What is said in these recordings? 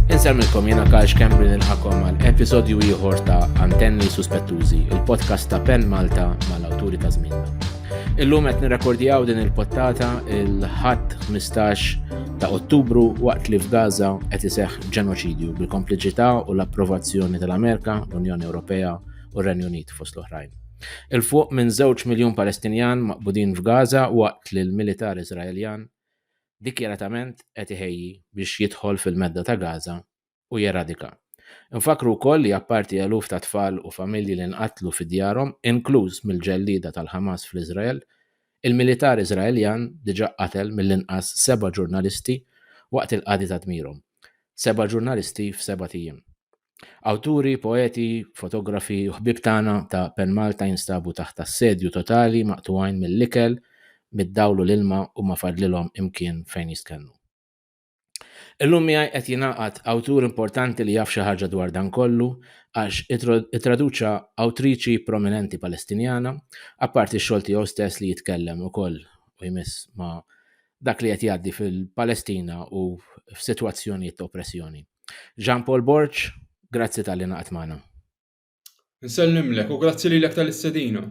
Insemmilkom jena Karx Kembri nilħakom għal episodju ieħor ta' Antenni Suspettużi, il-podcast ta' Pen Malta mal-awturi ta' żminna. Illum qed nirrekordjaw din il-pottata il-ħadd 15 ta' Ottubru waqt li f'Gaza qed iseħħ ġenoċidju bil-kompliċità u l-approvazzjoni tal-Amerika, l-Unjoni Ewropea u r-Renju Unit fost l-oħrajn. 'il fuq minn żewġ miljun Palestinjan maqbudin f'Gaza waqt li l-militar Iżraeljan dikjaratament qed iħejji biex jidħol fil-Medda ta' Gaza u jeradika. Infakkru wkoll li apparti eluf ta' tfal u familji li nqatlu fi djarhom, inkluż mill-ġellieda tal-Ħamas fl-Iżrael, il-militar Iżraeljan diġà qatel mill-inqas seba' ġurnalisti waqt il-qadi ta' dmirhom. Seba' ġurnalisti f'sebat ijiem. Awturi, poeti, fotografi u ħbieb tagħna ta' Pen Malta jinstabu taħt assedju totali maqtugħin mill-ikel, mid-dawl u l-ilma u ma fadlilhom imkien fejn jistkennu. Illum miegħi qed jingħaqad awtur importanti li jaf xi ħaġa dwar dan kollu għax ittraduċa awtriċi prominenti Palestinjana, apparti x-xogħol tiegħu stess li jitkellem ukoll u jmiss ma' dak li qed jgħaddi fil-Palestina u f'sitwazzjonijiet ta' oppressjoni. Jean Paul Borg, grazzi tal-li naqat magħna. Nsellimlek u grazzi lilek tal-istedina.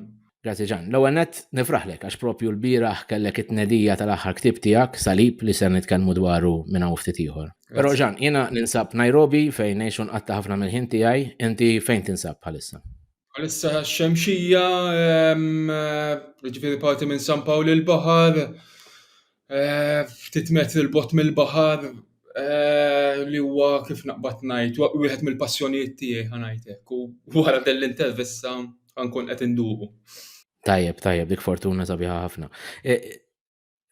Grazzi Ġan. L-ewwel nett nifraħlek għax propju l-bieraħ kellek it-tnedija tal-aħħar ktieb tiegħek Salib li ser nitkellmu dwaru minn hawn ftit ieħor. Però Ġan, jiena ninsab Nairobi fejn ngħixu nqatta' ħafna mill-ħin tiegħi, inti fejn tinsab bħalissa? Bħalissa xemxija, jiġifieri parti minn San Pawl il-Baħar, ftit metri 'l bogħod mill-baħar li huwa kif naqbad ngħid wieħed mill-passjonijiet tiegħi ħa ngħid hekk u wara din l-intervista ħa nkun qed induqu. Tajjeb, tajjeb, dik fortuna sabiħa ħafna. E,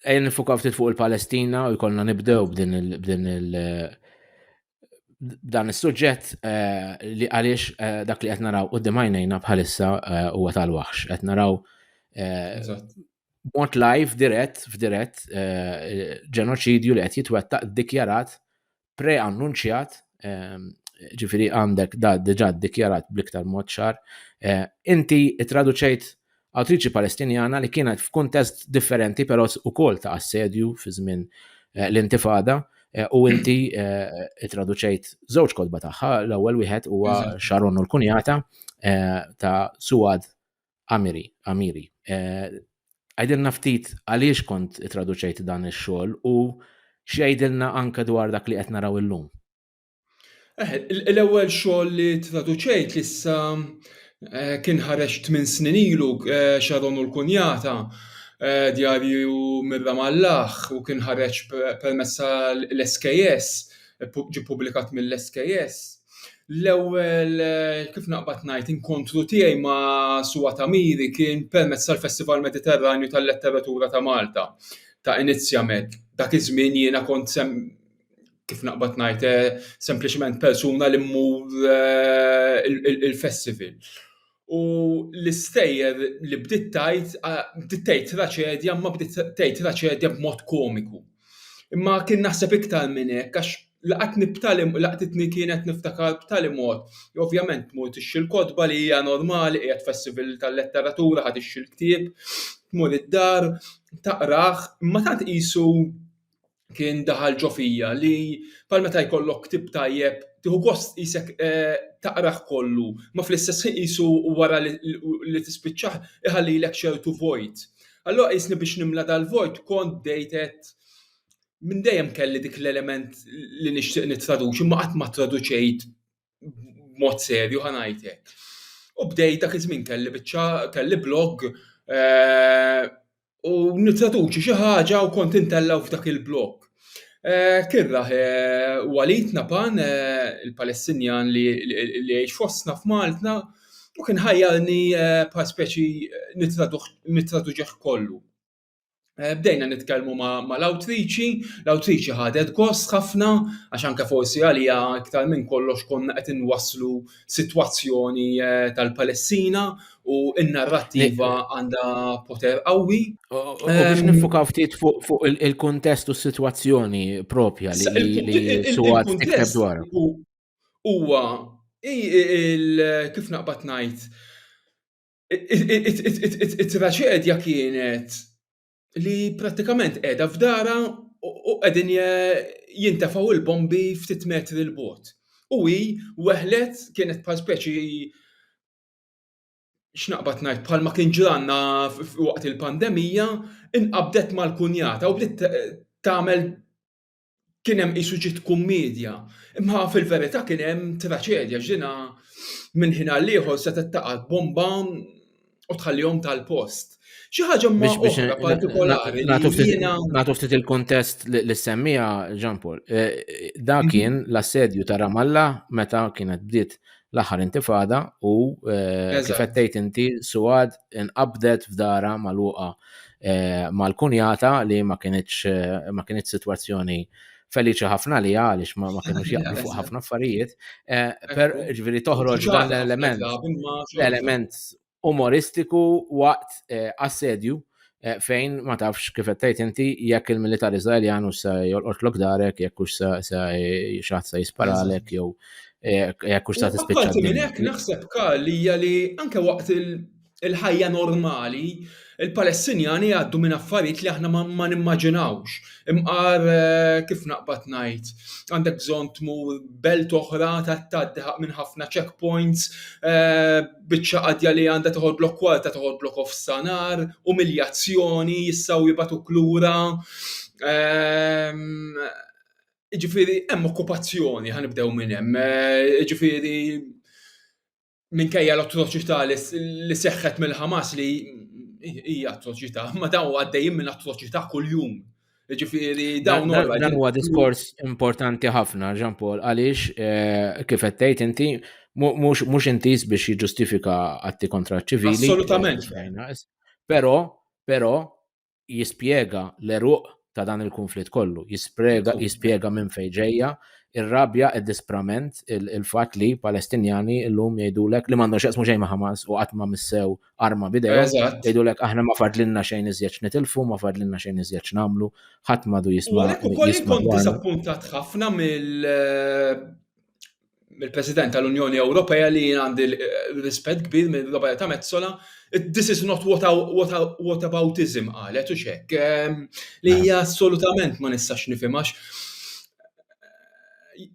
ejja nifukaw ftit fuq il-Palestina u jkollna nibdew b'din il- dan is-suġġett eh, li għaliex eh, dak li qed naraw qudiem għajnejna bħalissa eh, huwa tal-waħx. Qed naraw mod live dirett f'dirett ġenoċidju li qed jitwettaq dikjarat pre-annunċjat ġifiri għandek da diġa dikjarat bliktar mod ċar. Inti traduċejt Awtriċi Palestinjana li kienet f'kuntest differenti però ukoll ta' assedju fi żmien eh, l-intifada eh, u inti eh, traduċejt żewġ kodba tagħha, l-ewwel wieħed huwa Sharon u l-kunjata ta' Suad Amiri, Amiri. Għajdilna ftit għaliex kont traduċejt dan ix-xogħol u x'għidilna anke dwar dak li qed naraw illum. Eh, l-ewwel xogħol li traduċejt li issa eh, kien ħareġ tmien snin ilu eh, Sharon u l-Kunjata djarju mirra mallaħ u kien ħareġ permessa l-SKS, ġi publikat mill-SKS. L-ewwel kif naqbad ngħid inkontru tiegħi ma' Suwa Tamiri kien permezz tal-Festival Mediterranju tal-Letteratura ta' Malta ta' Inizjamed. Dak iż-żmien jiena kont kif naqbad ngħid eh, sempliċement persuna li mmur eh, il-festival. U l-istejjer li bdiet tajt, bdiet tgħid traċedja, ma bdiet tgħid traċedja b'mod komiku. Imma kien naħseb iktar minn hekk għax laqat nibtali laqtitni kienet niftakar b'tali mod. Ovvjament tmur tixxi l-kotba li hija normali qiegħed festival tal-letteratura ħad ixxi l-ktieb, tmur id-dar, taqrah, imma tant qisu kien daħal ġo fija li bħal meta jkollok ktieb tajjeb tieħu gost qisek eh, taqrah kollu, ma fl-istess ħin qisu wara li tispiċċah iħallilek ċertu vojt. Allura qisni biex nimla dal-vojt kont bdejt qed minn dejjem kelli dik l-element li nixtieq nittraduċi ma qatt ma traduċejt b'mod serju ħa ngħid hekk. U bdejt dak iż-żmien kelli biċċa kelli blog eh, u nittraduċi xi ħaġa u kont intellaw f'dak il-blog. Eh, kien raħ eh, Walid Napan, il-Palestinjan li jgħix fostna f'Malta, u kien ħajjarni bħal speċi nittraduġeħ kollu. Eh, bdejna nitkellmu ma' l-awtriċi, l-awtriċi ħadet gost ħafna, għax anke forsi għalija iktar minn kollox konna qed inwasslu sitwazzjoni eh, tal-Palestina u n-narrattiva għandha poter qawwi. U biex ehm, nifukaw ftit fuq il-kontest u s-sitwazzjoni propja li suwat tikteb dwar. Huwa kif naqbad ngħid it-traċedja kienet li prattikament qiegħda f'darha u qegħdin jintefgħu l-bombi ftit metri 'l bogħod. U hi weħlet kienet bħal speċi x'naqbad ngħid bħalma kien ġralna waqt il-pandemija, inqabdet mal-kunjata u bdiet tagħmel kien hemm qisu ġiet kummiedja, imma fil-verità kien hemm traċedja x'dina minn ħin għal ieħor se taqgħad bomba u tħallihom tal-post. Xi ħaġa ma oħra partikolari. Nagħtu ftit il-kontest li semmija Jean Paul. Eh, da mhm. kien l-assedju ta' Ramalla meta kienet bdiet l-aħħar intifada u eh, kif qed inti Suad inqabdet f'dara magħluqa eh, mal-kunjata li ma kienitx eh, ma kienitx sitwazzjoni feliċi ħafna li għaliex ma kienux jaqblu fuq ħafna affarijiet, per ġviri toħroġ dan l-element, l-element umoristiku waqt eh, assedju eh, fejn ma tafx kif qed tgħid inti jekk il-militar Iżraeljan u se jolqotlok darek jekk hux se xaħat se jisparalek jew eh, jekk hux se tispiċċa. Minn hekk naħseb kalli hija li anke waqt il-ħajja normali Il-Palestinjani jgħaddu minn affarijiet li aħna ma nimmaġinawx. Imqar, kif naqbad ngħid, għandek bżonn tmur belt oħra, tgħaddi minn ħafna checkpoints, biċċa qadja li għandha toħodlok kwarta toħodlok ofsa nar, umiljazzjoni, jistgħu jibagħtuk lura. Jiġifieri hemm okkupazzjoni, ħa nibdew minn hemm. Jiġifieri, minkejja l-atroċità li seħħet mill-Ħamas li hija atroċità, ma daw għaddejjin minn atroċità kuljum. Ġifieri dawn Dan huwa diskors importanti ħafna, Jean Paul, għaliex eh, kif qed tgħid inti mhux intiż biex jiġġustifika atti kontra ċivili. Assolutament. Però, però, jispjega l-eruq ta' dan il-konflitt kollu, jispjega minn fejn ġejja, ir-rabja, id-disprament, il-fatt li Palestinjani llum jgħidulek li m'għandhom x'jaqsmu xejn ma' Hamas u qatt ma missew arma bidejhom. Eżatt. Jgħidulek aħna ma fadlilna xejn iżjed nitilfu, ma fadlilna xejn iżjed nagħmlu, ħadd m'għadu jisma'. Għalhekk ukoll inkun diżappuntat ħafna mill mill-President tal-Unjoni Ewropea li jien għandi rispett kbir minn Roberta Metsola, this is not what, what, what aboutism qalet u xek, ehm, li hija mela. assolutament ma nistax nifimax.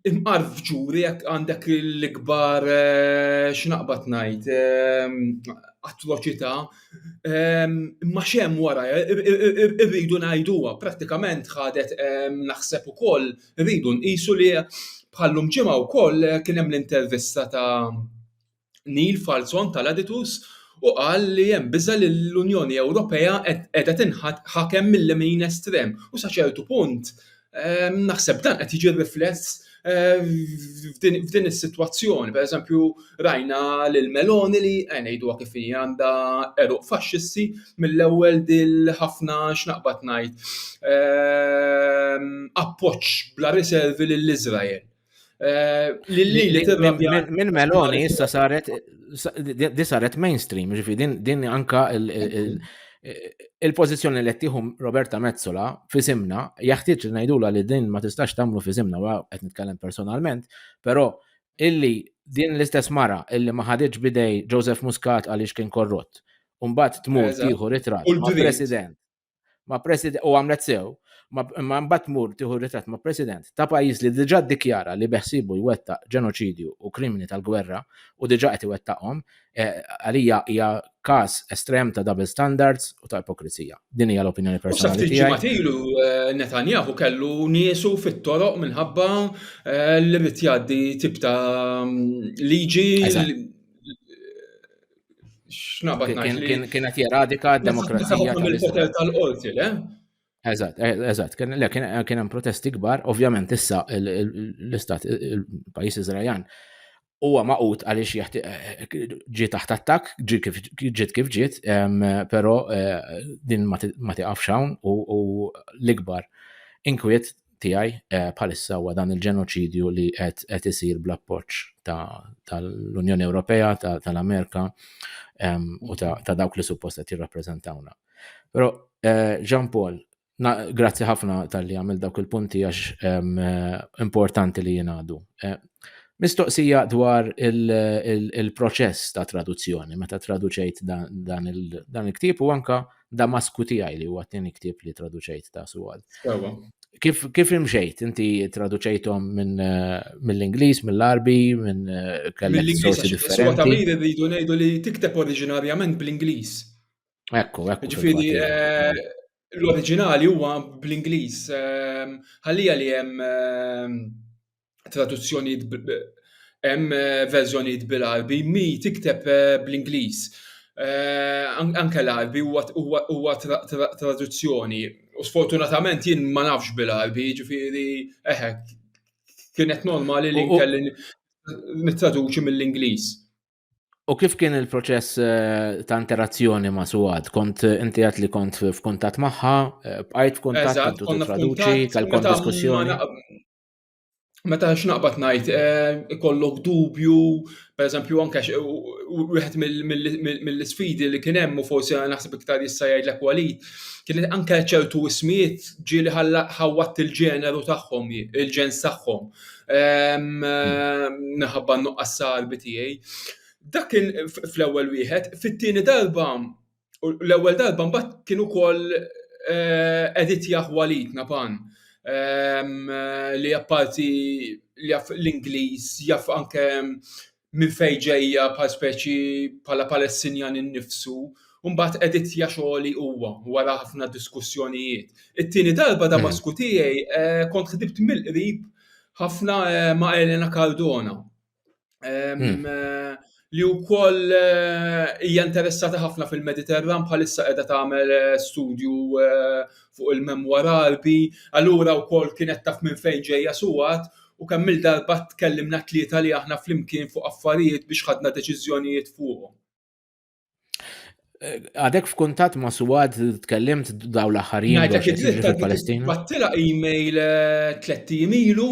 Imqar f'ġuri jekk għandek l-ikbar eh, x'naqbad ngħid ehm, atroċità, ehm, ma xem wara, irridu ngħiduha, prattikament ħadet naħseb ukoll koll Irridu nqisu li bħal llum ġimgħa wkoll kien hemm l-intervista ta' Neil Falzon tal-Aditus u qal li hemm biża' li l-Unjoni Ewropea qiegħda tinħakem mil-lemin estrem u sa ċertu punt naħseb dan qed jiġi rifless f'din is-sitwazzjoni. Pereżempju, Rajna lil Meloni li, ngħiduha kif inhi, għandha għeruq faxxisti mill-ewwel dil ħafna x'naqbad ngħid appoġġ bla riservi lil Iżrael. Minn Meloni issa saret di saret mainstream, ġifi din anka il-pożizzjoni li tieħu Roberta Mezzola fi simna, jaħtieġ ngħidula li din ma tistax tagħmlu fi simna, qed nitkellem personalment, però illi din l-istess mara illi ma ħaditx b'idej Joseph Muscat għaliex kien korrott, u mbagħad tmur tieħu ritratt ma' President ma' President u għamlet sew, imma mbagħad tmur tieħu ritratt ma' President ta' pajjiż li diġà ddikjara li beħsiebu jwettaq ġenoċidju u krimini tal-gwerra u diġà qed iwettaqhom, Eh, għalija hija każ estrem ta' double standards u ta' ipokrizija. Din hija l-opinjoni personali tiegħi. Matilu eh, Netanyahu kellu niesu fit-toroq minħabba eh, li rid jgħaddi tip ta' mm, liġi x'nabat Kien qed jeradika d-demokrazija tal-poter tal-qorti, le? Eżatt, eżatt, kien hemm protesti kbar, ovvjament issa l-istat il-pajjiż Iżraeljan huwa maqut għaliex ġi taħt attak, ġiet kif ġiet, però eh, din ma tiqafx hawn u l-ikbar inkwiet tiegħi eh, bħalissa huwa dan il-ġenoċidju li qed isir bl-appoġġ tal-Unjoni Ewropea, tal-Amerika u ta' dawk li suppost qed jirrappreżentawna. Però eh, Jean Paul, Grazzi ħafna tal-li għamil dawk il-punti għax eh, importanti li jenadu. Eh, mistoqsija dwar il-proċess ta' traduzzjoni, meta traduċejt dan il-ktib u anka Damasku tiegħi li huwa t-tieni ktib li traduċejt ta' suwad. Kif, kif imxejt? Inti traduċejtom minn eh, mill-Inglis, mill-Arbi, minn eh, kellek sorsi differenti. Suwa ta' li jridu ngħidu li tikteb oriġinarjament bl-Inglis. Ekku, ekku. Ġifiri, eh, l-oriġinali huwa bl-Ingliż. Ehm, ħallija li hemm ehm, traduzzjonijiet hemm eh, verżjonijiet bil-Arbi, mi tikteb eh, bl-Ingliż. Anke l-Arbi huwa traduzzjoni. U sfortunatament jien ma nafx bil-Arbi, ġifiri, eħe, kienet normali li kelli nittraduċi mill-Ingliż. U kif kien il-proċess eh, ta' interazzjoni ma' Suad? Kont eh, inti għat li kont f'kuntat maħħa, eh, bqajt f'kuntat, kont u traduċi, tal-kont diskussjoni. Meta x'naqbad ngħid, ikollok dubju, pereżempju anke wieħed mill-isfidi li kien hemm u forsi naħseb iktar issa jgħidlek walid, kien anke ċertu ismijiet ġieli ħawwat il-ġeneru tagħhom, il-ġens tagħhom. Naħabba ehm, nuqqas salbi tiegħi. Dak kien fl-ewwel wieħed, fit-tieni darba l-ewwel darba mbagħad kien ukoll eh, edit jaħwalit napan ehm, li apparti li jaf l-Ingliż, jaf anke minn fejn ġejja bħal speċi bħala Palestinjan innifsu u mbagħad editja xogħli huwa wara ħafna diskussjonijiet. It-tieni darba Damasku tiegħi kont ħdimt mill-qrib ħafna ma' Elena Cardona li wkoll hija interessata ħafna fil-Mediterran bħalissa qiegħda tagħmel studju fuq il-memwa Għarbi allura wkoll kienet taf minn fejn ġejja Suad U kemm-il darba tkellimna t-tlieta li aħna flimkien fuq affarijiet biex ħadna deċiżjonijiet fuqhom. Għadek f'kuntatt ma' Suad tkellimt daw l-aħħar jiem. Ngħidlek id-dritt tal-Palestina. Battila email eh, tliet ijiem ilu.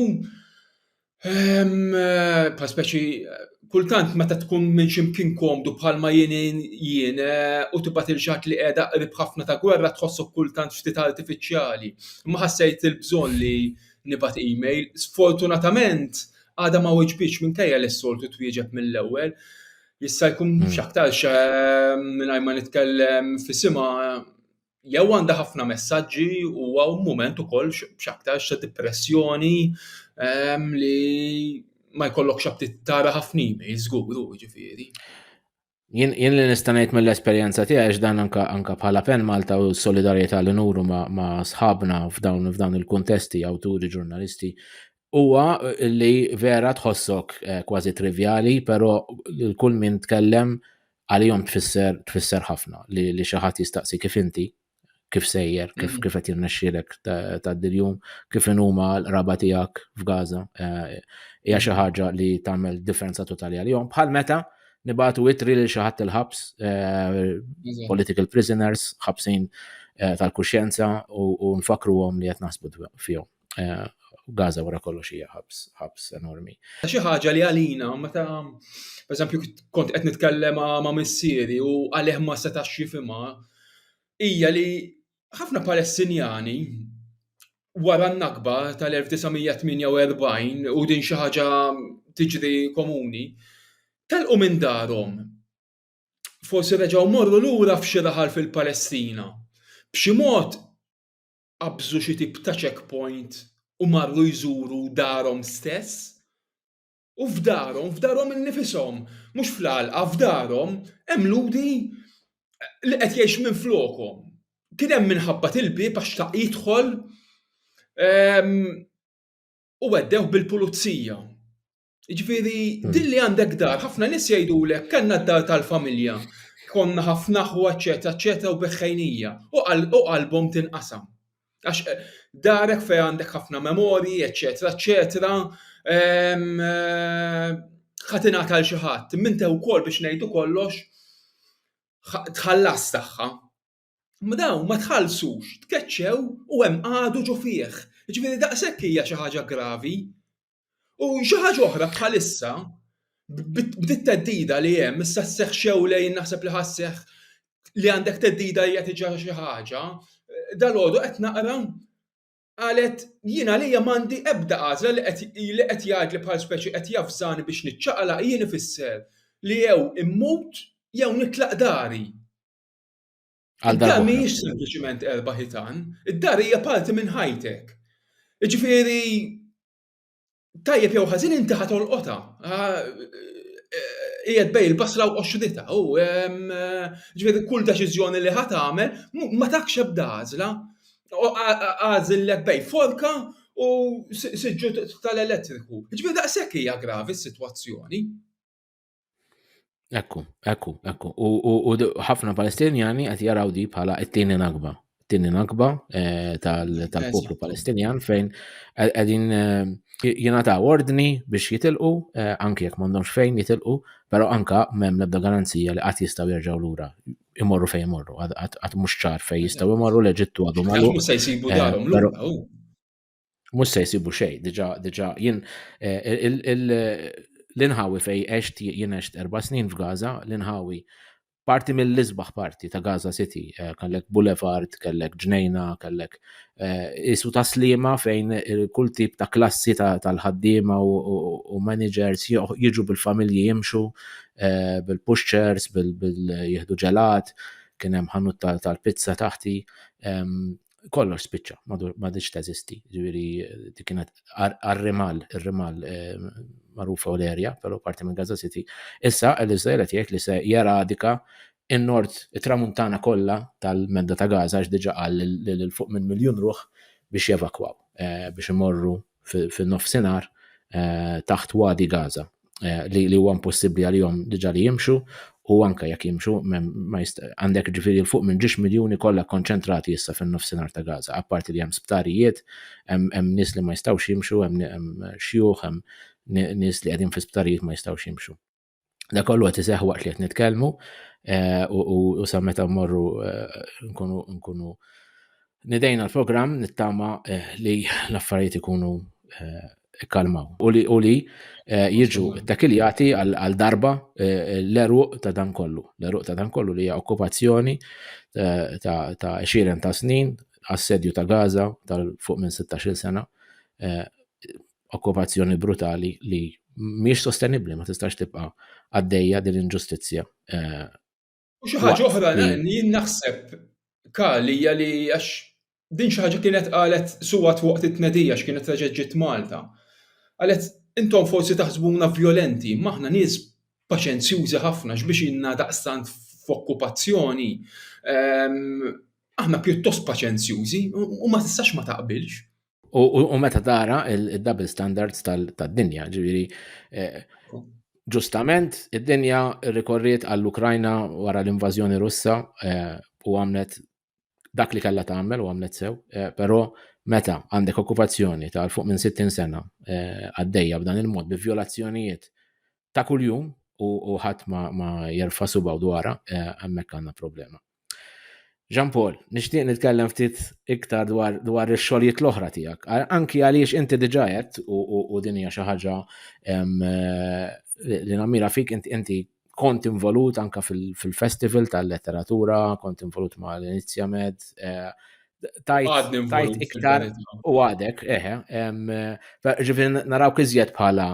Ehm, eh, pa speċi kultant meta tkun minn ximkien komdu bħalma jien jien eh, u tibgħat il xatt li qiegħda qrib ħafna ta' gwerra tħossok kultant ftit artifiċjali. Ma ħassejt il-bżonn li nibgħat email. Sfortunatament għadha ma weġbitx minkejja li s-soltu twieġeb mill-ewwel. Jista' jkun hmm. x'aktarx ehm, mingħajr ma nitkellem fisimha jew għandha ħafna messaġġi u għaw moment ukoll x'aktarx ta' depressjoni ehm, li ma jkollok xabtit tara ħafna email żgur, ġifieri. Jien li nista' ngħid mill-esperjenza tiegħi x'dan anka anka bħala pen Malta u solidarjetà li nuru ma' sħabna f'dawn f'dawn il-kuntesti, awturi, ġurnalisti, huwa li vera tħossok eh, kważi trivjali, però kull min tkellem għalihom tfisser tfisser ħafna li xi ħadd jistaqsi kif inti kif sejjer, kif mm. kif qed jirnexxielek ta' diljum, kif inhuma l-qraba tiegħek f'Gaza. Eh, hija xi ħaġa li tagħmel differenza totali għalihom. Bħal meta nibatu itri lil xi ħadd il-ħabs, eh, political prisoners, ħabsin eh, tal-kuxjenza u nfakruhom li qed naħsbu fihom. Eh, Gaza wara kollox hija ħabs, ħabs enormi. Xi ħaġa li għalina meta pereżempju kont qed nitkellem ma' missieri u għalih ma setax jifhimha hija li ħafna Palestinjani wara n-nakba tal-1948 u din xi ħaġa tiġri komuni, telqu minn darhom. Forsi reġgħu morru lura f'xi raħal fil-Palestina. B'xi mod qabżu xi tip ta' checkpoint u marru jżuru darhom stess. U f'darhom, f'darhom innifishom, mhux fl-għalqa, f'darhom hemm Lhudi li qed jgħix minflokhom. Kien hemm min ħabbat il-bieb għax xtaq jidħol u weddewh bil-pulizija. Ġviri, hmm. din li għandek dar, ħafna nis jajdu l kanna d-dar tal-familja, konna ħafna ħu, eccetera, eccetera, u beħħajnija, u qalbom tinqasam. Għax eh, darek fej għandek ħafna memori, eccetera, eccetera, ehm, eh, ħatina tal xaħat, minn tew kol biex nejdu kollox, tħallas taħħa. Mdaw, ma tħallsux, tkeċċew u hemm għadu ġo fih. Ġviri daqshekk hija xi ħaġa gravi U xi ħaġa oħra bħalissa bit-teddida li hemm issa sseħħ xew lejn naħseb li ħasseħ li għandek teddida hija tiġa xi ħaġa, dal-għodu qed naqra qalet jien għalija m'għandi ebda għażla li qed jgħid li bħal speċi qed javżani biex niċċaqlaq jien ifisser li jew immut jew nitlaq dari. Għal dar mhijiex sempliċiment erba' ħitan, id-dar hija parti minn ħajtek. Ġifieri tajjeb jew ħażin inti ħa tolqotha. Ah, qiegħed bej il-basra u qoxrita u ġifieri kull deċiżjoni li ħa tagħmel ma takx ebda għażla. Għażillek bej forka u siġġu tal-elettriku. Ġifieri daqshekk hija gravi s-sitwazzjoni. Ekku, ekku, ekku. U ħafna Palestinjani qed jaraw di bħala t-tieni nakba. T-tieni nakba eh, tal-poplu Palestinjan fejn qegħdin eh, jingħataw ordni biex jitilqu, eh, anke jekk m'għandhomx fejn jitilqu, però anka m'hemm l-ebda garanzija li qatt jistgħu jerġgħu lura imorru fejn imorru, għad mhux ċar fejn jistgħu imorru l-Eġittu għadu magħluq. Mhux se jsibu darhom lura. Mhux se jsibu xejn, diġà diġà jien eh, l-inħawi fej għext jien għext erba' snin f'Gaza, l-inħawi parti mill-isbaħ parti ta' Gaza City, eh, kellek boulevard, kellek ġnejna, kellek eh, isu ta' slima fejn kull tip ta' klassi tal-ħaddiema u managers jiġu bil-familji jimxu eh, bil-pushers, bil-jihdu ġelat, kien hemm ħanut tal-pizza taħti. Ehm, kollox spiċċa, ma diċ teżisti, ġviri dik kienet għal-rimal, il-rimal eh, marufa u l-erja, pero parti minn Gaza City. Issa, l-Izrael qed jgħid li se jeradika in-nord, it-tramuntana kollha tal-medda ta' Gaza, għax diġa qal l fuq minn miljun ruħ biex jevakwaw, eh, biex imorru fin-nofsinhar eh, taħt Wadi Gaza eh, li huwa impossibbli għalihom diġà li jimxu u anke jekk jimxu għandek ġifieri l fuq minn ġiex miljuni kollha konċentrati issa fin-nofsinhar ta' Gaza, apparti li hemm sptarijiet, hemm nies li ma jistgħux jimxu, hemm xjuħ, hemm nies li qegħdin fi sptarijiet ma jistgħux jimxu. Da kollu qed iseħħ waqt li qed nitkellmu eh, u sa meta mmorru eh, nkunu nkunu nidejna l-programm nittama eh, li l-affarijiet ikunu ikkalmaw u li u li jiġu takiljati għal darba l-eruq ta' dan kollu. L-eruq ta' dan kollu li hija okkupazzjoni ta' 20 ta' snin assedju ta' Gaza tal-fuq minn 16 sena okkupazzjoni brutali li mhijiex sostenibbli, ma tistax tibqa' għaddejja din l-inġustizzja. Eh, U xi ħaġa oħra jien naħseb kali hija li għax din xi ħaġa kienet qalet suwat waqt it-tnedija x'kienet reġgħet ġiet Malta. Qalet intom forsi taħsbuna vjolenti, maħna nies paċenzjużi ħafna x'biex inna daqstant f'okkupazzjoni. Ehm, aħna pjuttost paċenzjużi u ma tistax ma taqbilx. U meta tara il-double standards tad-dinja, ġiviri, eh, ġustament id-dinja rikorriet għall-Ukrajna wara l-invażjoni Russa eh, u għamlet dak li kellha tagħmel u għamlet sew, eh, però meta għandek okkupazzjoni ta' fuq minn 60 sena għaddejja b'dan il-mod bi violazzjonijiet ta' kuljum u ħadd ma jerfa' subaw dwarha hemmhekk għandna problema. Jean Paul, nixtieq nitkellem ftit iktar dwar, dwar ix-xogħlijiet l-oħra tiegħek. Anki għaliex inti diġà qed u, u, u din hija xi ħaġa eh, li nammira fik inti kont involut anka fil-festival tal-letteratura, kont involut ma' l-Inizja Med, eh, tajt iktar u għadek, eħe, ġifin naraw kizjet bħala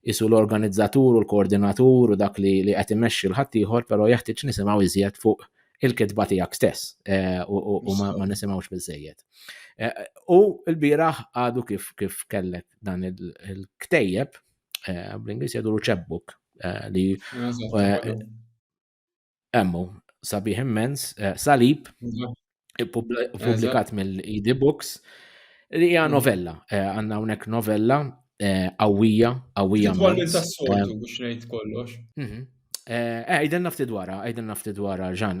isu l-organizzatur u l-koordinatur u dak li li qed imexxi l-ħaddieħor, però jeħtieġ nisimgħu iżjed fuq il-kitba tiegħek stess eh, u ma nisimgħux biżejjed. Eh, u l-bieraħ għadu kif kif kellek dan il-ktejjeb eh, bl-Ingliż jgħidu ċebbuk li Emmu, sabiħ immens, eh, salib, publikat mill-ID Books, li hija mm. novella, eh, għanna unek novella eh, qawwija, qawwija. Titwalli ta' soltu biex ngħid kollox. Mhm. Għajden nafti dwara, għajden nafti dwara, ġan.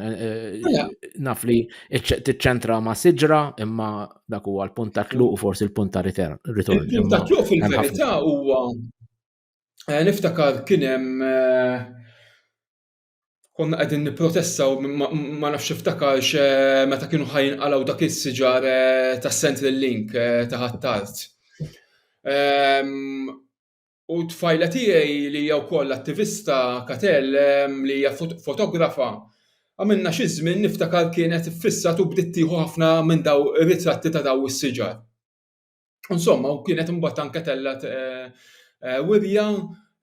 Mela. Naf li t-ċentra ma siġra, imma dak huwa l-punt ta' tluq u forsi l-punt ta' ritorn. Il-punt ta' tluq fil-verità huwa Eh, niftakar kien hemm eh, konna qegħdin nipprotestaw ma nafx iftakarx eh, meta kienu ħajn għalaw dak is-siġar ta' Central Link ta' ħattart. Ehm, u tfajla tiegħi li hija wkoll attivista Katel ehm, li hija fotografa għamilna xi żmien niftakar kienet fissat u bdiet tieħu ħafna minn daw ir-ritratti ta' daw is-siġar. Insomma, u kienet imbagħad anke tellgħet eh, eh, wirja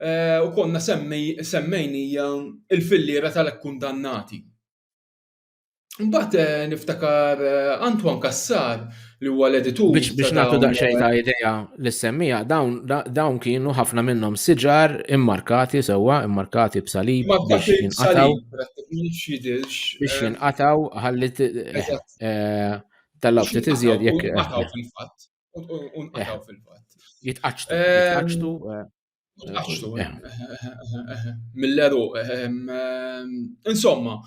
eh, u konna semmejnija il-fillira tal-kundannati. Mbagħad niftakar Antoine Kassar li huwa l-editur. Biex biex nagħtu daqsxejn ta' idea li semmija, dawn dawn kienu ħafna minnhom siġar immarkati sewwa, immarkati b'salib biex jinqataw. Biex jinqataw ħalli Tal-lawb ftit iżjed jekk. Unqataw eh. fil-fatt. Unqataw eh. fil-fatt. Jitqaċtu. Jitqaċtu. Jitqaċtu. Mill-eru. Insomma.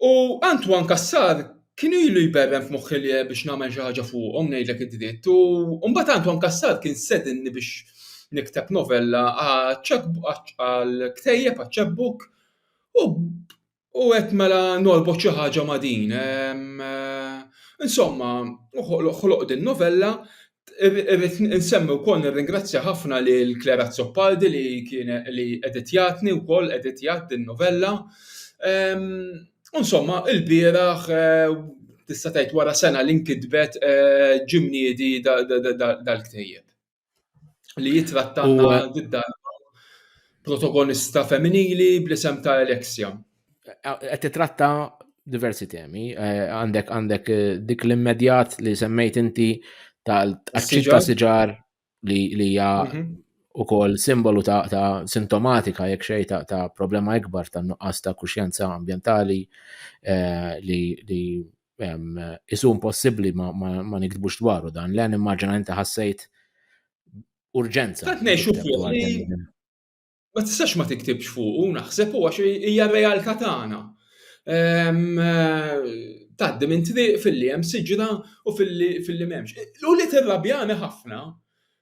U Antoine Kassar kien ilu jberrem f'moħħi li biex nagħmel xi ħaġa fuqhom ngħidlek id-dritt. U mbagħad Antoine Kassar kien sedinni biex nikteb novella għal ktejjeb għal ċebbuk u U qed mela norbot xi ħaġa ma' din. Insomma, ħloq din novella. Irrid insemmi wkoll nirringrazzja ħafna lil Claire Azzopardi li kienet li editjatni wkoll, editjat din novella. U insomma, ilbieraħ, tista' tgħid wara sena li nkitbet, ġie mniedi dal-ktieb. li jitrattanna didda protagonista femminili bl-isem ta' Alexia. Qed titratta diversi temi, eh, għandek għandek eh, dik l-immedjat li semmejt inti tal-tqaċċit ta' siġar li hija mhm. u kol simbolu ta', ta sintomatika jekk xej ta', ta problema ikbar ta' nuqqas ta' kuxjenza ambientali eh, li, li isu impossibbli ma niktbux dwaru dan l-għan immaġina inti ħassejt urġenza. Tant ngħixu fuq ma tistax ma tiktibx fuq u naħseb u għax hija r-realtà tagħna. Taddi minn triq fil-li hemm siġra u fil-li m'hemmx. U li tirrabjani ħafna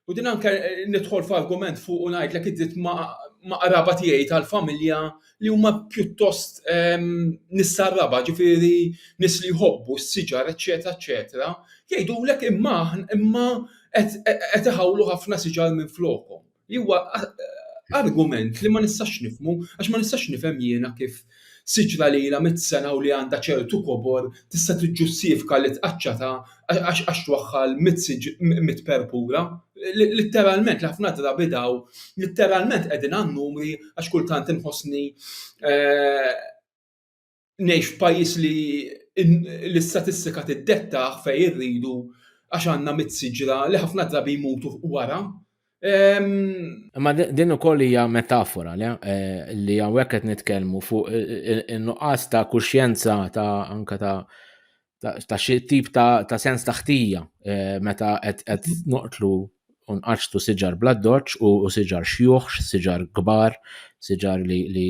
U din anke nidħol f'argument fuq u ngħidlek id-dritt ma' qraba tiegħi tal-familja li huma pjuttost ehm, nissa raba, ġifieri nis li jħobbu s-siġar, eċetera, eċetera, jgħidulek imma imma qed iħawlu ħafna siġar minn flokhom. Li huwa argument li ma nistax nifmu, għax ma nistax nifhem jiena kif Siġra li ilha mitt sena u li għandha ċertu kobor tista' tiġġustiifka li tqaċċatha għax twaħħal mitt perpura. Litteralment, ħafna drabi daw litteralment qegħdin għan-numri għax kultant inħossni ngħix f'pajjiż li l-istatistika tiddettah fejn irridu għax għandna mitt siġra li ħafna drabi jmutu wara. Imma din ukoll hija metafora eh, li hawnhekk qed nitkellmu fuq in-nuqqas ta' kuxjenza ta' anka ta' ta' xi tip ta' sens ta' ħtija eh, meta qed noqtlu unqaċtu siġar bladdoċ u siġar xjuħ, siġar kbar, siġar li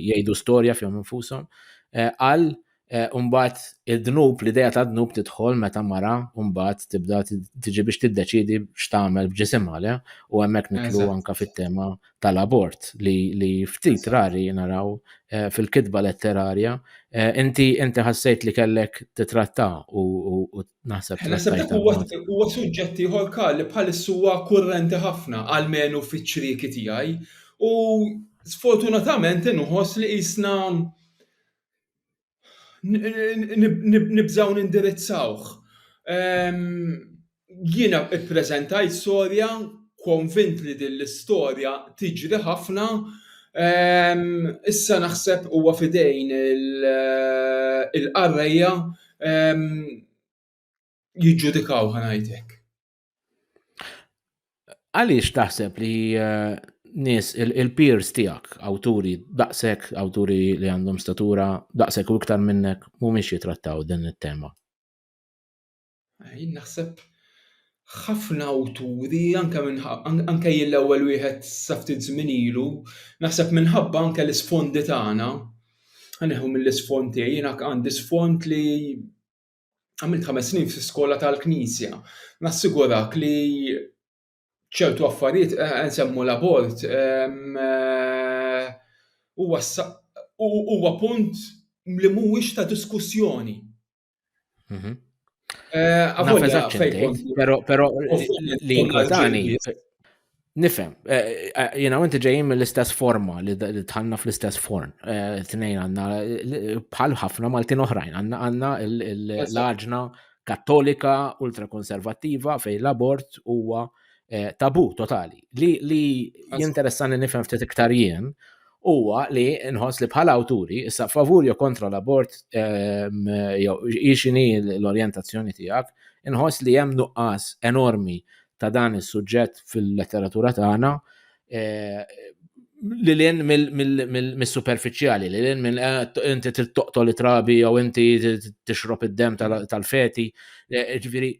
jgħidu storja fihom infushom, eh, għal Eh, umbat il-dnub, l-ideja ta' dnub tidħol meta mara umbat tibda tiġi biex tiddeċidi x'tagħmel b'ġisim għale u hemmhekk nitlu anka fit-tema tal-abort li, li ftit rari naraw eh, fil-kitba letterarja. Eh, inti inti ħassejt li kellek titratta u, u, u naħseb. Naħseb dak huwa suġġetti ieħor li bħalissa huwa kurrenti ħafna għalmenu fiċ-ċrieki tiegħi u sfortunatament inħoss li jisna nibżgħu nindirizzawh. Jiena ppreżentajt storja konvint li din l-istorja tiġri ħafna, issa naħseb huwa f'idejn il-qarrejja jiġġudikaw, ħa ngħid hekk. Għaliex taħseb li eh, nis il-peers tijak, awturi daqsek, awturi li għandhom statura daqsek u iktar minnek, mumiex jitrattaw din il-tema? Jien naħseb ħafna awturi, anke anke jien l-ewwel wieħed saftit żmien ilu, naħseb minħabba anke l-isfondi tagħna, ħaneħu mill-isfond tiegħi, jiena għandi sfond li għamilt ħames snin fi skola tal-Knisja. Nassigurak li ċertu affarijiet eh, eh, nsemmu l-abort ehm, eh, huwa punt li mhuwiex ta' diskussjoni. Mhm. Però li inkwetani Nifem, eh, eh, jena għanti ġejjim mill-istess forma li tħanna fl-istess forn. Eh, tnejn għanna bħal ħafna Maltin oħrajn, għanna għanna l-laġna kattolika ultrakonservativa fej l-abort huwa tabu totali. Li jinteressani nifem ftit iktar jien huwa li nħoss li bħal awturi issa favur jo kontra l-abort ehm, jew ixini l-orjentazzjoni tiegħek, inħoss li hemm nuqqas enormi ta' dan is-suġġett fil-letteratura tagħna eh, li l-in mill-superficiali, li l-in minn eh, inti trid toqtol trabi jew inti tixrob id-dem tal-feti. Eh, ġifieri,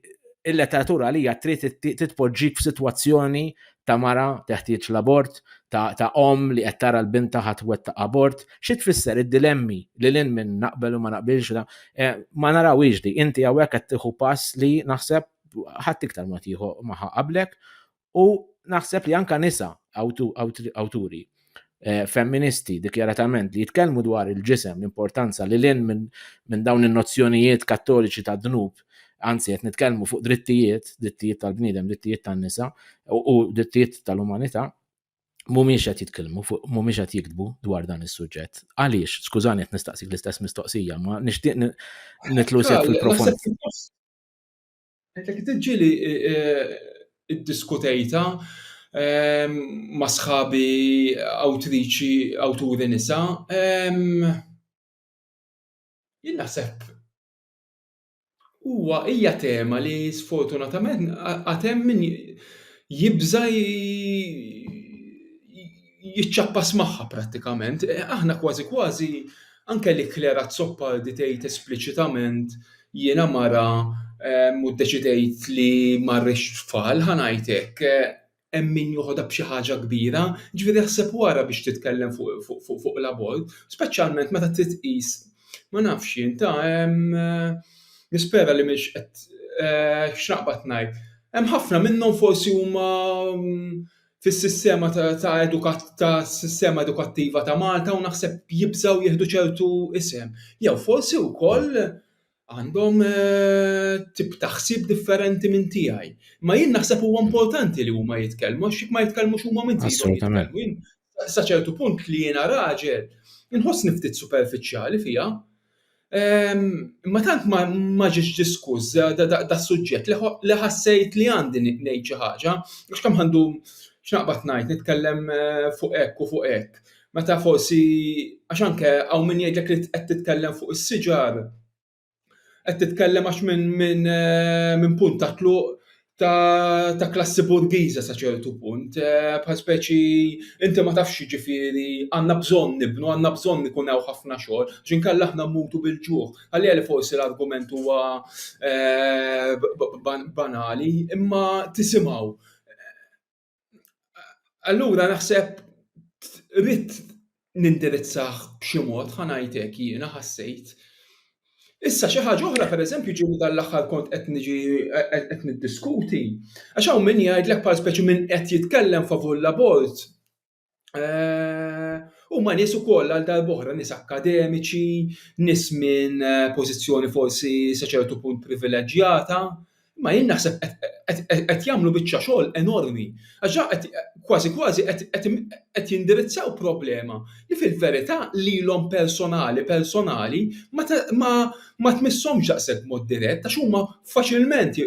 il-letteratura li hija trid titpoġġik f'sitwazzjoni ta' mara teħtieġ l-abort, ta' om li qed tara l-bint taħat ħatwet ta' abort, xi tfisser id-dilemmi li l-in minn naqbel u ma naqbilx eh, ma narawiex di. Inti hawnhekk qed tieħu pass li naħseb ħadd iktar ma tieħu maħa qablek u naħseb li anka nisa awturi eh, femministi dikjaratament li jitkellmu dwar il-ġisem l-importanza li lin minn dawn in-nozzjonijiet kattoliċi ta' dnub anzi qed nitkellmu fuq drittijiet, drittijiet tal-bniedem, drittijiet tan-nisa u drittijiet tal-umanità, mumiex qed jitkellmu fuq mumiex qed jiktbu dwar dan is-suġġett. Għaliex, skużani qed nistaqsik l-istess mistoqsija, ma nixtieq nitlu sew fil-profond. Qed ġieli iddiskutejtha ma' sħabi awtriċi, awturi nisa, jien naħseb huwa, hija tema li sfortunatament għad hemm min jibża' jiċċappas magħha prattikament. Aħna kważi kważi anke li Claire Azzopardi tgħid espliċitament jiena mara ehm, u ddeċidejt li ma rridx tfal, ħa ngħid hekk, hemm min joħodha b'xi ħaġa kbira, ġifieri ħseb wara biex titkellem fuq l-abort, speċjalment meta trid tqis ma nafx jien ta' hemm eh, nispera li mhix qed eh, x'naqbad ngħid. Hemm ħafna minnhom forsi huma mm, fis-sistema ta' tas-sistema edukattiva ta' Malta u naħseb jibżgħu jieħdu ċertu isem. Jew forsi wkoll għandhom tip ta' ħsieb differenti minn tiegħi. Ma jien naħseb huwa importanti li huma jitkellmu għax jekk ma jitkellmux huma min żidhom jitkellmu. Sa ċertu punt li jiena raġel inħossni ftit superfiċjali fiha. Imma tant ma ġiex diskuss das-suġġett li ħassejt li għandi ngħid xi ħaġa, għax kemm ħandum x'naqbad ngħid, nitkellem fuq hekk u fuq hekk, meta forsi, għax anke hawn min jgħidlek li qed titkellem fuq is-siġar, qed titkellem għax minn punt tat-tluq ta', ta klassi burgiża sa ċertu punt, eh, bħal speċi inti ma tafx ġifieri għandna bżonn nibnu, għandna bżonn ikun hawn ħafna xogħol, ġinkella aħna mmutu bil-ġuħ. Għalija li forsi l-argument huwa eh, banali, imma tisimgħu. Allura naħseb rrid nindirizzah b'xi mod, ħa ngħidlek jiena ħassejt. Issa xi ħaġa oħra pereżempju ġieli dan l-aħħar kont qed niġi qed niddiskuti, għax hawn min jgħidlek bħal speċi min qed jitkellem favur l-abort, Eh, u ma nis u koll għal darbohra nis akademiċi, nis minn eh, pozizjoni forsi saċertu punt privileġġjata, ma jien naħseb qed jagħmlu biċċa xogħol enormi. Għaxa kważi kważi qed jindirizzaw problema li fil-verità lilhom personali personali ma tmisshomx daqshekk mod dirett għax huma faċilment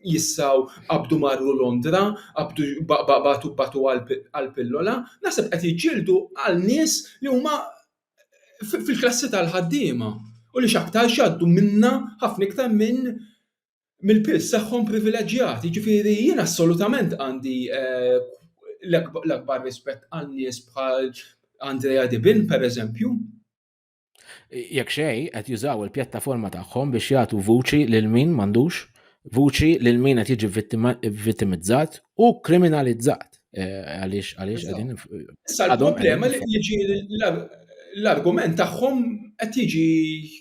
jistgħu qabdu marru Londra, qabdu batu batu għall-pillola, naħseb qed jiġġieldu għal nies li huma fil-klassi tal-ħaddiema u li x'aktarx jgħaddu minnha ħafna iktar minn mill-piż tagħhom privileġġjat. Jiġifieri jien assolutament għandi l-akbar rispett għal nies bħal Andrea Dibin, pereżempju. Jekk xejn qed jużaw il-pjattaforma tagħhom biex jagħtu vuċi lil min m'għandux, vuċi lil min qed jiġi vittimizzat u kriminalizzat. Eh, għaliex għaliex qegħdin. Issa l-problema li jiġi l-argument tagħhom qed jiġi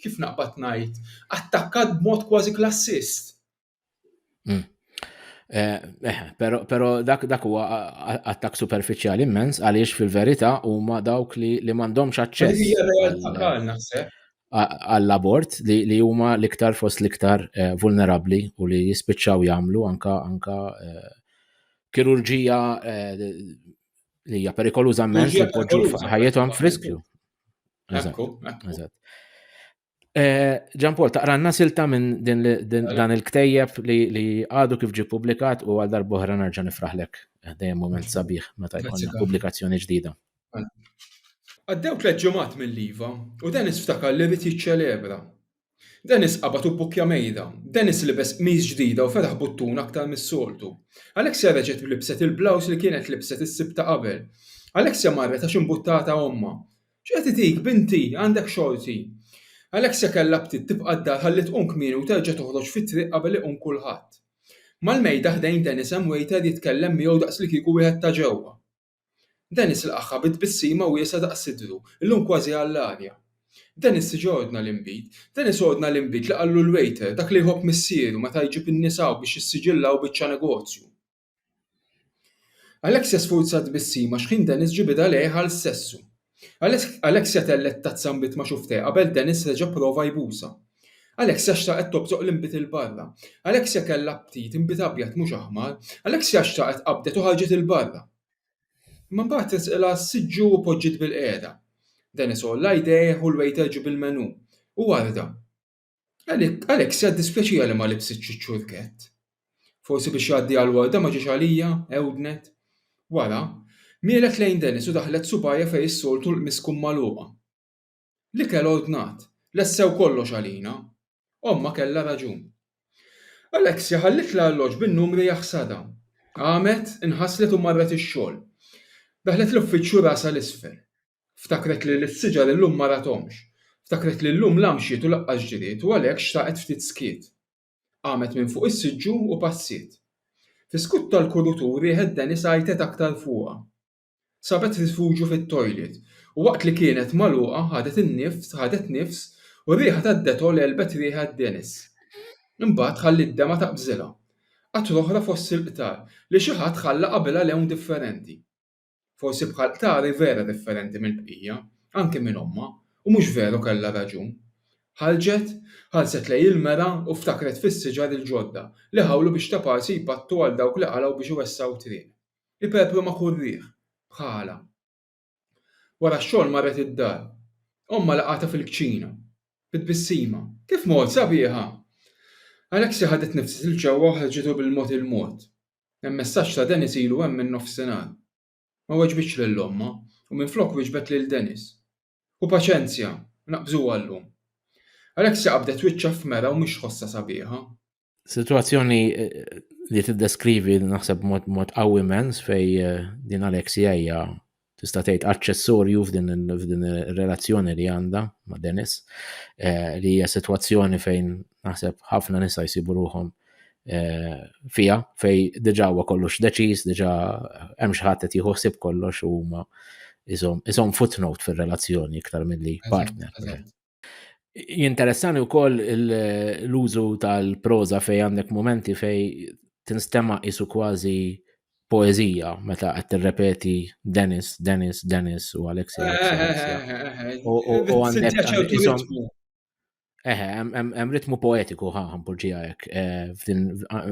kif naqbad ngħid attakkat b'mod kważi klassist. Hmm. Eh, eh, pero, pero dak dak huwa attak superfiċjali immens għaliex fil-verità huma dawk li li m'għandhomx aċċess għall-abort li huma l-iktar fost l-iktar eh, vulnerabbli u li jispiċċaw jagħmlu anka anka eh, kirurġija eh, li hija perikoluża immens li poġġu ħajjithom friskju. Eżatt. Ġan eh, Paul, taqranna silta minn din dan il-ktejjeb li għadu kif ġi publikat u għal darbohra nerġa' nifraħlek. Eh, dejjem moment sabiħ meta jkollna pubblikazzjoni ġdida. Għaddew tliet ġimgħat mill-liva u Dennis ftakar li rrid jiċċelebra. Dennis qabad u bukja mejda, Dennis libes qmiż ġdida u fetaħ buttun aktar mis-soltu. Alexia reġgħet libset il-blaws li kienet libset is-sibta qabel. Alexia marret għax imbuttata omma. X'qed itik, binti? Għandek xorti. Alexia kellha btitt tibqa' d-dar ħalli tqum kmieni u terġa' toħroġ fit-triq qabel iqum kulħadd. Mal-mejda ħdejn Dennis hemm waiter jitkellem miegħu daqslikieku wieħed ta' ġewwa. Dennis lqagħha bi tbissima wiesgħa daqs sidru, illum kważi għall-arja. Dennis tiġi ordna l-inbid. Dennis ordna l-inbid li qallu l-waiter, dak li jħobb missieru meta jġib in-nies hawn biex jissiġillaw biċċa negozju. Alexia sfurzat bis-sim għax ħin Dennis ġie bidha lejh għal sessu. Alexia tellgħet tazza nbid ma' xufftejh qabel Dennis reġa' pprova jbusha. Alexia xtaqet tobżoq l-inbid 'il barra. Alexia kellha aptit inbid abjad mhux aħmar. Alexia xtaqet qabdet u ħarġet 'il barra. Imma mbagħad tresqilha s-siġġu u poġġiet bilqiegħda. Dennis għolla jdejh u l-wejter ġieb il-menù. Huwa rda. Alexia ddispjaċiha li ma libsitx iċ-ċurkett. Forsi biex jgħaddi għal warda ma ġiex għalija, ewdnet. Wara, mielet lejn Dennis u daħlet subgħajha fejn is-soltu l-qmis tkun magħluqa. L-ikel ordnat, lessew kollox għalina. Ommha kellha raġun. Alexia ħalliet l-arloġġ bin-numri jaħsadha. Qamet, inħaslet u marret ix-xogħol. Daħlet l-uffiċċju rasha 'l isfel. Ftakret li l-siġar illum ma ratomx. Ftakret li llum la mxiet u laqqas ġriet u għalhekk xtaqet ftit skiet. Qamet minn fuq is-siġġu u passiet. Fis-skut tal-kurutur riħet Denis għajtet aktar fuqha. Sabet rifuġju fit-toilet u waqt li kienet magħluqa ħadet in-nifs, ħadet nifs u r-riħa tad-Dettol għelbet riħet Denis. Imbagħad ħalliet demgħa taqbżilha. Qatra oħra fost il-qtar li xi ħadd ħalla qabilha lewn differenti. Forsi bħal ktar hi vera differenti mill-bqija, anki minn ommha, u mhux veru kellha raġun. Ħarġet, ħarset lejn il-mera u ftakret fis-siġar il-ġodda li ħawlu biex ta' parsi jpattu għal dawk li qalgħu biex iwessgħu triq. Iperpru ma' kull riħ. Bħalha. Wara x-xogħol marret id-dar. Ommha laqgħatha fil-kċina. Bi tbissima. Kif mort, sabiħa! Alexia ħadet nifs 'l ġewwa u ħarġitu bil-mod il-mod. Hemm messaġġ ta' Dennis ilu hemm minn nofsinhar. Ma weġbitx lil ommha u minflok wieġbet lil Dennis. Ħu paċenzja, naqbżuha llum. Alexia qabdet wiċċha f'Mera u mhix tħossha sabiħa. Sitwazzjoni li tiddeskrivi naħseb b'mod qawwi immens fejn din Alexia hija tista' tgħid aċċessorju f'din ir-relazzjoni li għandha ma' Dennis eh, li hija sitwazzjoni fejn naħseb ħafna nista' jsibu ruhom eh, fija fej diġà huwa kollox deċiż, diġà hemm xi ħadd qed jħossib kollox u huma isom footnote fir-relazzjoni iktar milli partner. Jinteressani wkoll l-użu tal-proża fej għandek momenti fej tinstema' isu kważi poezija meta qed tirrepeti Dennis, Dennis, Dennis u Alexi. U għandek Eħe, hemm ritmu poetiku ħa ħampoġija hekk eh,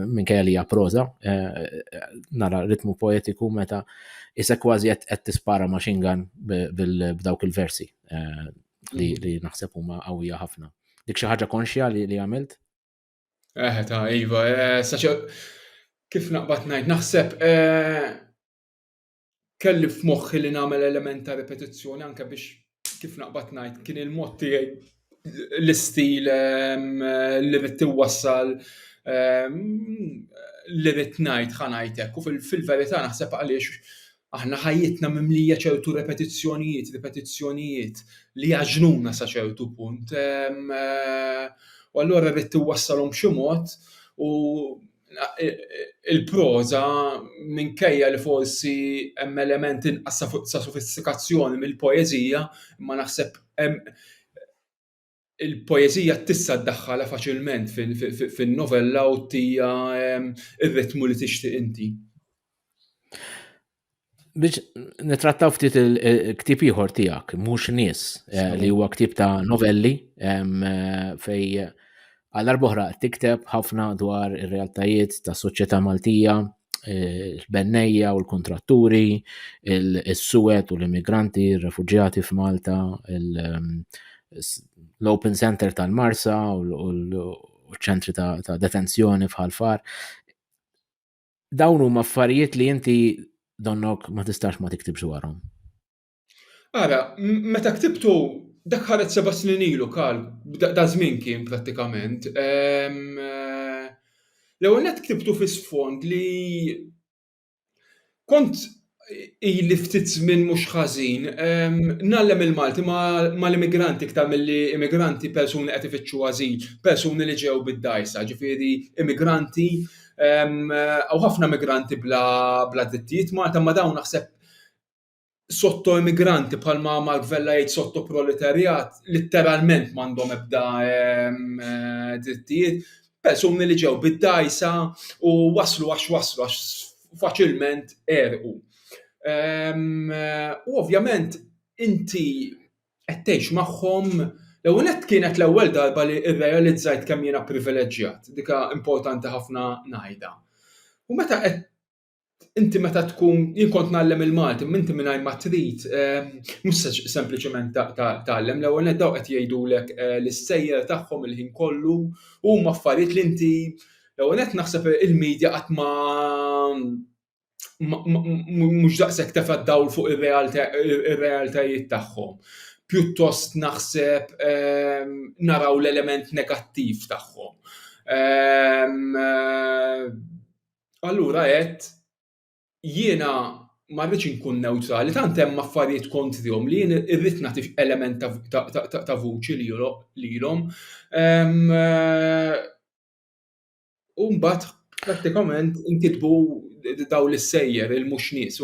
minn kajja li proża, eh, nara ritmu poetiku meta isek kważi qed tispara machine gun b'dawk il-versi. Eh, li, mm. li naħseb huma qawwija ħafna. Dik xi ħaġa konxja li, li għamilt? Eh, ta' Iva, eh, saċa kif naqbad ngħid, naħseb eh, kelli f'moħħi li nagħmel element ta' ripetizzjoni anke biex kif naqbad ngħid kien il-mod tiegħi l-istil ehm, li rid tiwassal ehm, li rid ngħid ħanajtek u fil-verità naħseb għaliex Aħna ħajjitna mimlija ċertu repetizzjonijiet, ripetizzjonijiet li jgħaġġnuna sa ċertu punt. U allura rrid iwassalhom b'xi mod u il-proża minkejja li forsi hemm element inqas ta' sofistikazzjoni mill-poeżija imma naħseb hemm il-poeżija tista' ddaħħalha faċilment fin-novella u tija ehm, ir-ritmu li tixtieq inti. Biex nitrattaw ftit il-ktib ieħor tiegħek, mhux nies, eh, li huwa ktib ta' novelli ehm, eh, fej għal boħra tikteb ħafna dwar ir-realtajiet ta' soċjetà Maltija, il-bennejja u l-kuntratturi, il-suwed u l-immigranti, il-refugjati f'Malta, l-Open Center tal-Marsa u l-ċentri ta' detenzjoni f'Ħalfar. Dawn huma affarijiet li inti donnok ma tistax ma tiktibx dwarhom. Ara, meta ktibtu dak ħareġ seba' snin ilu kal, da żmien kien prattikament. Eh, l-ewwel net ktibtu fi sfond li kont ili ftit żmien mhux ħażin ngħallem il-Malti mal-immigranti iktar milli immigranti persuni qed ifittxu ażil, persuni li ġew bid-dgħajsa, ġifieri immigranti, hawn ħafna immigranti bla drittijiet Malta imma dawn naħseb sottoimmigranti bħalma Mark Vella jgħid sottoproletarjat litteralment m'għandhom ebda ehm, eh, drittijiet, persuni li ġew bid-dajsa u waslu għax waslu għax faċilment erqu. Ehm, eh, u ovvjament inti qed tgħix magħhom L-ewwel kienet l-ewwel darba li rrealizzajt kemm jiena privileġġjat, dika importanti ħafna ngħidha. U meta qed inti meta tkun jien kont nagħllem il-Malti, minti mingħajr ma trid eh, mhux sempliċement tagħllem l-ewwel net daw qed jgħidulek eh, l-issejjer tagħhom il-ħin kollu u huma affarijiet li inti l-ewwel net naħseb il-medja qatt ma mhux daqshekk tefa' dawl fuq ir-realtajiet tagħhom. Pjuttost naħseb ehm, naraw l-element negattiv tagħhom. Ehm, Allura għedt jiena ma rridx inkun newtrali, tant hemm affarijiet kontrihom li jien irrid nagħti element ta' vuċi lilhom. Ehm, u mbagħad prattikament inkitbu dawn l-issejjer il-mhux nies.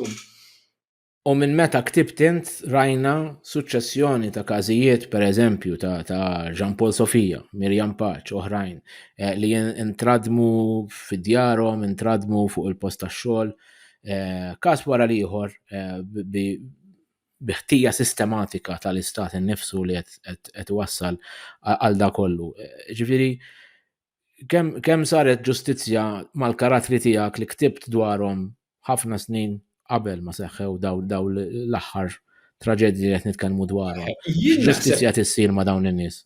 U minn meta ktibt int rajna suċċessjoni ta' każijiet pereżempju ta', ta Jean Paul Sofia, Mirjam Paċ, oħrajn eh, li intradmu fid-djarhom, intradmu fuq il-post tax-xogħol, eh, każ wara l-ieħor eh, bi biħtija sistematika tal-istat innifsu li qed wassal għal da kollu. Ġifieri, kemm kem saret ġustizzja mal-karattri tiegħek li ktibt dwarhom ħafna snin qabel ma seħħew daw, daw l-aħħar traġedji li qed nitkellmu dwarhom. Ġustizzja tissir ma' dawn in-nies.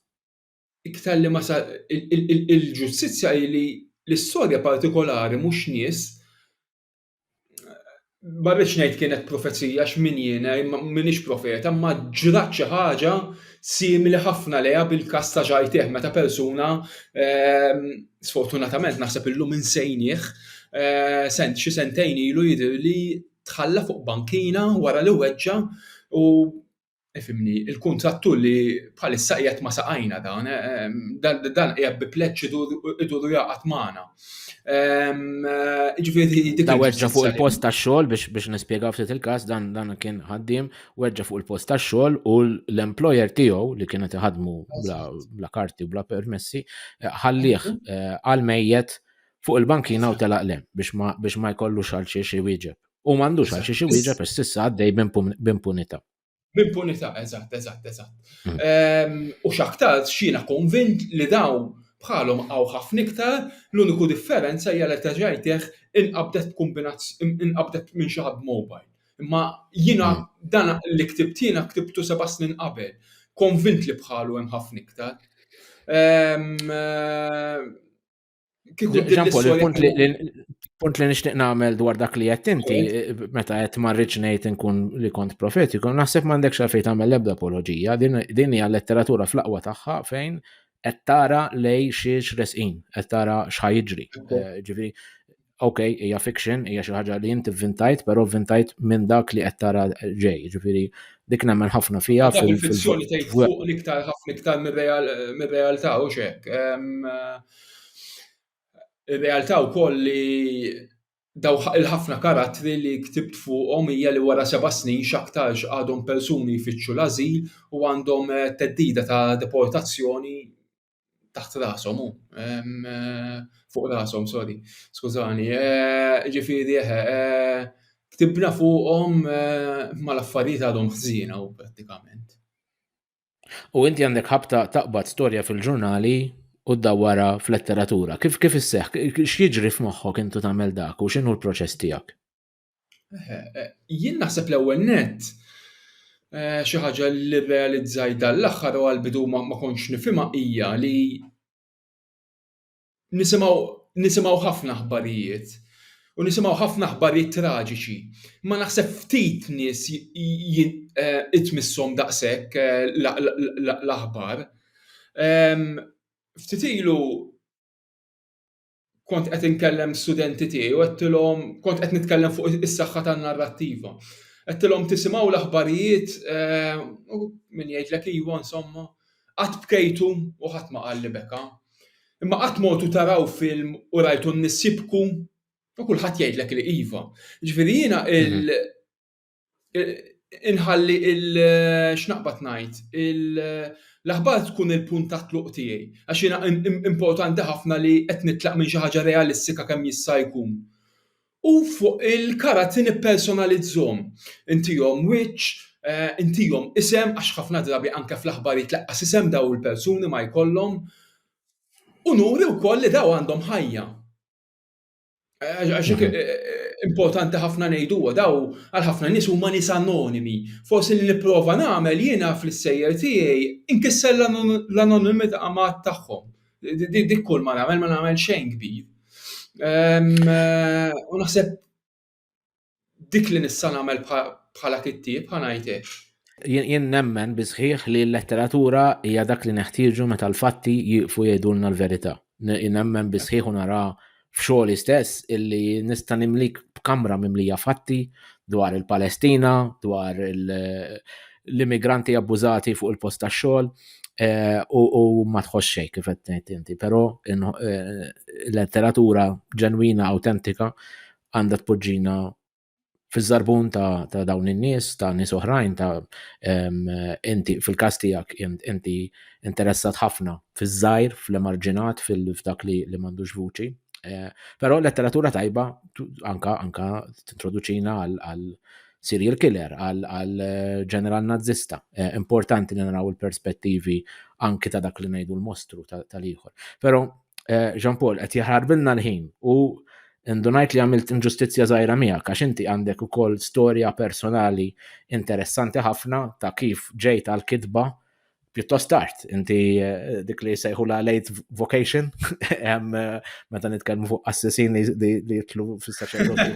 Iktar li ma sa il-ġustizzja li l-istorja partikolari mhux nies ma rridx ngħid kienet profezija x'min jiena m'iniex profeta, ma ġrat xi ħaġa simili ħafna leha bil-każ ta' Ġajteh meta persuna ehm, sfortunatament naħseb illum insejnieh, eh, sent xi sentejn ilu jidhirli tħalla fuq bankina wara li weġġa' u Ifimni, il-kuntrattur li bħalissa qiegħed ma' saqajna dan, dan qiegħed bi pleġġ idur u jaqgħad magħna. Ġifieri dik. Da weġġa fuq il-post tax-xogħol biex nispjega ftit il-każ dan dan kien ħaddiem weġġa fuq il-post tax-xogħol u l-employer tiegħu li kienet iħadmu bla karti bla permessi ħallih għal mejjet fuq il-bankina u telaq lem biex ma jkollux għal xiex iwieġeb. U m'għandux għal xiex iwieġeb għax s'issa għaddej b'impunità. B'impunità, eżatt, eżatt, eżatt. Hmm. Ehm, u x'aktar x'jiena konvint li daw bħalhom għaw ħafna iktar, l-uniku differenza hija li terġajtih inqabdet inqabdet minn xi ħadd mobile. Imma jiena hmm. dan li ktibt jiena ktibtu seba' snin qabel. Konvint li bħalu hemm ħafna iktar. Ehm, punt li nixtieq nagħmel dwar dak li qed inti meta qed ma rridx ngħid inkun li kont profetiku, naħseb m'għandekx għalfejn tagħmel l-ebda apoloġija, din hija letteratura fl-aqwa tagħha fejn qed tara lej xiex resqin, qed tara x'ħajġri. Eh, ġifieri ok, hija fiction, hija xi ħaġa li inti vvintajt, però vvintajt minn dak li qed tara ġej, ġifieri dik nemmen ħafna fija. Dak il-fizzjoni tgħid fuq l-iktar ħafna iktar mir-realtà u xek. Ir-realtà wkoll li daw il-ħafna karattri li ktibt fuqhom hija li wara seba' snin x'aktarx għadhom persuni jfittxu l-ażil u għandhom eh, teddida ta' deportazzjoni taħt rasom u eh, fuq rasom, sorry, skużani. Eh, ġifiri, eh, ktibna fuqhom ma l-affarijiet għadhom ħżina u prattikament. U inti għandek ħabta taqbad storja fil-ġurnali u d-dawara fl-letteratura. Kif kif isseħ, x'jiġri f'moħħok intu tagħmel dak u x'inhu l-proċess tiegħek? Eh, jien naħseb l-ewwel net eh, xi ħaġa li realizzaj dan l-aħħar u għal-bidu ma kontx nifhimha hija li nisimgħu nisimgħu ħafna aħbarijiet u nisimgħu ħafna aħbarijiet traġiċi. Ma naħseb ftit nies eh, itmissom daqshekk l-aħbar. Ehm, ftit ilu kont qed inkellem studenti tiegħi u għedtilhom kont qed nitkellem fuq is-saħħa tan-narrattiva. Għedtilhom tisimgħu l-aħbarijiet eh, u min jgħidlek iwa insomma, qatt bkejtu u ħadd ma qal li beka. Imma qatt mortu taraw film u rajtu n-nies jibku u kulħadd jgħidlek li iva. Ġifieri jiena mhm. inħalli il x'naqbad ngħid l-aħbar tkun il-punt ta' tluq tiegħi għax jiena importanti ħafna li qed nitlaq minn xi ħaġa realistika kemm jista' jkun. U fuq il-karatti nippersonalizzhom, intihom wiċċ, intihom isem għax ħafna drabi anke fl-aħbarijiet laqqas isem dawn il-persuni ma jkollhom, u nuri wkoll li dawn għandhom ħajja. Għax mhm. eh, eh, importanti ħafna ngħidu daw għal ħafna nies huma nies anonimi. Forsi li nipprova nagħmel jiena fl-sejjer tiegħi inkisser l-anonimità ma' tagħhom. Dik kull ma nagħmel ma nagħmel xejn kbir. Ehm, eh, u naħseb dik li nista' nagħmel bħala kittieb ħanajt hekk. Jien nemmen bi sħiħ li l-letteratura hija dak li neħtieġu meta l-fatti jieqfu jgħidulna l-verità. Nemmen bi sħiħ u nara f'xogħli stess illi nista' nimlik b'kamra mimlija fatti dwar il-Palestina, dwar l-immigranti abbużati fuq il-post tax-xogħol eh, u ma tħoss xejn kif qed ngħid inti, però eh, letteratura ġenwina awtentika għandha tpoġġina fiż-żarbun ta', ta dawn in-nies, ta' nies oħrajn, ta' inti fil-każ tiegħek inti interessat ħafna fiż-żgħir, fl-emarġinat, fil-fdak li, li m'għandux vuċi. Eh, però letteratura tajba anka anka tintroduċina għal serial killer, għal eh, ġeneral nazista. Eh, importanti li naraw il-perspettivi anki ta' dak li ngħidu l-mostru tal-ieħor. Però eh, Jean Paul, qed jaħarbilna l-ħin u ndunajt li għamilt inġustizzja żgħira miegħek għax inti għandek ukoll storja personali interessanti ħafna ta' kif ġejt għal kitba pjuttost tard. Inti eh, dik li sejħu la late vocation, eh, meta nitkellmu fuq assessini li jitlu fis-saċerdoti.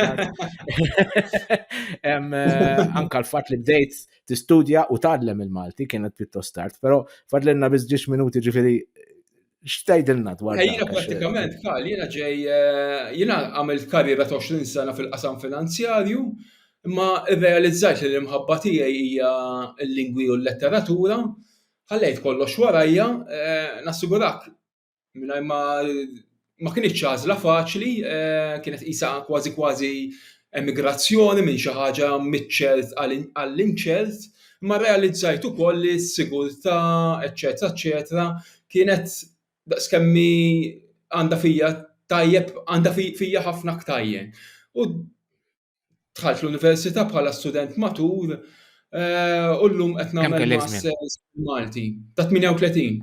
Eh, anka l-fatt li bdejt tistudja u tgħallem il-Malti kienet pjuttost tard, però fadlenna biss ġiex minuti ġifieri X'tajdilna dwar dan? Jiena prattikament qal jiena ġej eh, jiena għamilt karriera ta' 20 sena fil-qasam finanzjarju, imma rrealizzajt li l-imħabba tiegħi hija l-lingwi u l-letteratura, ħallejt kollox warajja, eh, nassigurak mingħajr ma ma kienx ċażla faċli, eh, kienet isa kważi kważi emigrazzjoni minn xi ħaġa miċ-ċert għall-inċert, ma realizzajt ukoll li s-sigurtà, eċetera, eċetera, kienet daqskemm hi għandha fija tajjeb, għandha fija ħafna ktajjen. U dħalt fl-università bħala student matur eh, u llum qed nagħmel masters Malti ta' 38.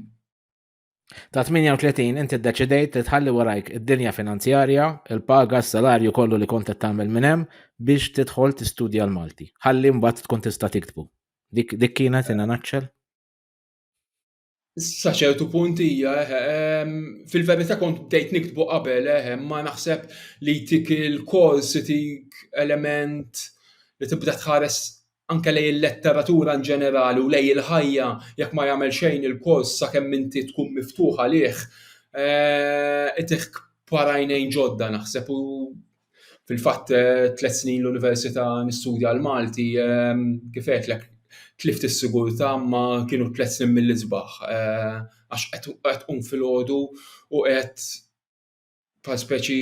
Ta' 38 inti ddeċidejt li tħalli warajk id-dinja finanzjarja, il-paga, s-salarju kollu li kont qed tagħmel minn hemm biex tidħol tistudja l-Malti. Ħalli mbagħad tkun tista' tiktbu. Dik kienet in a nutshell? Sa ċertu punt hija, eh, eh, fil-verità kont bdejt niktbu qabel, eh, ma naħseb li tik il-kors tik element li tibda tħares anke lej il-letteratura in ġenerali u lej il-ħajja jekk ma jagħmel xejn il-kors sakemm inti tkun miftuħ għalih, eh, itik parajnejn ġodda naħseb u Fil-fatt tliet snin l-Università nistudja l-Malti, kif għedtlek, tlift is-sigurtà imma kienu tliet snin mill-isbaħ għax qed tqum filgħodu u qed bħal speċi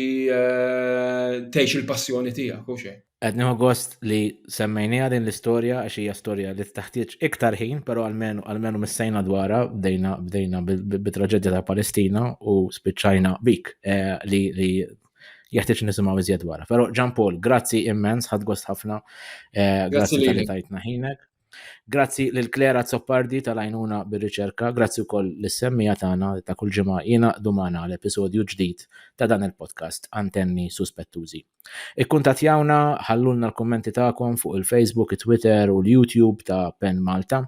tgħix il-passjoni tiegħek, hux hekk? Qed nieħu gost li semmejniha din l-istorja għax hija storja li teħtieġ iktar ħin, però almenu almenu missejna dwarha, bdejna bdejna bit-traġedja tal-Palestina u spiċċajna bik li li jeħtieġ nisimgħu iżjed wara. Però Ġan Paul, grazzi immens, ħad gost ħafna. Eh, grazzi li tajtna ħinek. Grazzi lil Klera Zoppardi tal-għajnuna bir-riċerka, grazzi wkoll lis-semmija tagħna ta' kull ġimgħa jiena dumana l-episodju ġdid ta' dan il-podcast Antenni Suspettużi. Ikkuntatjawna, ħallulna l-kummenti tagħkom fuq il-Facebook, it-Twitter u l-YouTube ta' Pen Malta.